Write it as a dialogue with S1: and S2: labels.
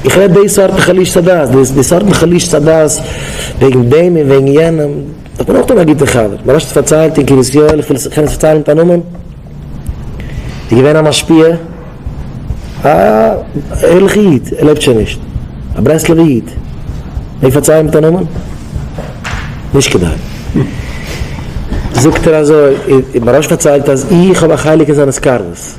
S1: איך רעד די סארט חלישת הדעת, די סארטן חלישת הדעת וועגן דעם און וועגן יענעם, איך בין אויך דא א גוטע חבר, מ'האט נישט פארציילט אין קרית יואל, איך וויל קען עס פארציילן מיט א נאמען, איז געווען א משפיע, א ערליכע איד, ער לעבט שוין נישט, א ברסלב'ע איד, מעג איך פארציילן מיט א נאמען? נישט כדאי. זאגט ער אזוי, מ'האט נישט פארציילט אז איך האב א חלק אין זיינע סקארעס.